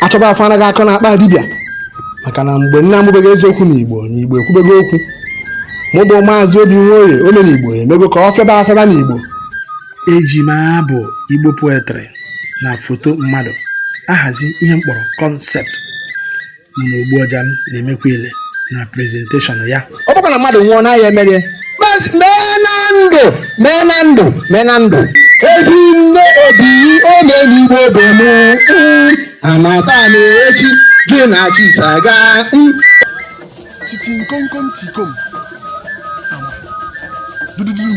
achọba afụ anaghị akọ n'akpa dibịa maka na mgbe nna amụbeghị eziokwu n'igbo na igbo ekwubego okwu mụ bụ maazị obi nwoye ome n'igbo emego ka ọ fịaba afịaba n'igbo eji m abụ igbo poetry na foto mmadụ ahazi ihe m kpọrọ kọnsept mụ na ogbu ọja m na-emekwa ile na prezenteshọn ya ọ bụkwa na mmadụ nwụọ n'ahịa emerie Mas- mee na ndụ mee na ndụ mee na ndụ ezi nne obi ome n'igbo bụ m mm, amata na echi gị na chisa gaa mm, titi nkomkom tikom ama dududum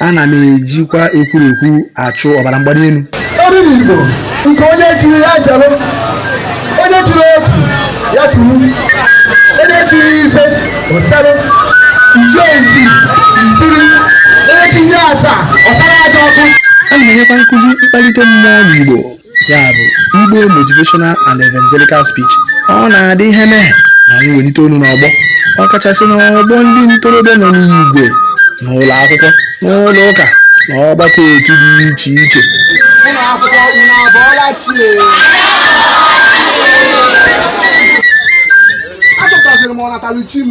ana m ejikwa ekwurekwu achụ ọbara mgbali elu ome n'igbo nke onye chiri ya zere onye chiri otu ya turu onye chiri ise osere i chie isii isiri onye chie asaa ọsara aja ọkụ ana m enyekwa nkụzi mkpalite mmụọ n'igbo ya bụ igbo motivational and evangelical speech ọ na-adị ihe mee ma m welite olu n'ọgbọ ọkachasị n'ọgbọ ndị ntorobịa nọ n'igwe n'ụlọ akwụkwọ n'ụlọ ụka na ọgbakọ otu dị iche iche ụlọ akwụkwọ unu abụọla chie achọpụtasịrị m ọnataluchi m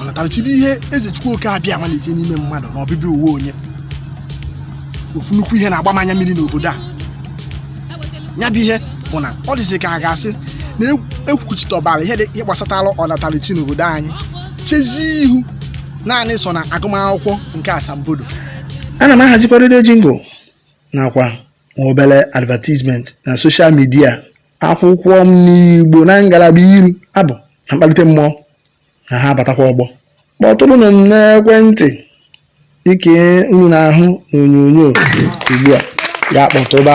ọnataluchi bụ ihe eze chukwu oke abịama na-etinye n'ime mmadụ na ọbịbịa ụwa onye ofu nnukwu ihe na-agba m anya mmiri n'obodo a ya bụ ihe bụ na ọ dịzị ka a ga-asị na ekwuchitọbara ihe ndị gbasatara ọnataluchi n'obodo anyị chezie ihu naanị so na agụmakwụkwọ nke asambodo ana m ahazikwa redio jingle nakwa nwa obere advertisement na soshal midia akwụkwọ m n'igbo na ngalaba iro abụ na mkpalite mmụọ na ha abatakwa ọgbọ kpọtụrụnụ m n'ekwentị nke unu na-ahụ n'onyonyo ugbu a ya kpọtụba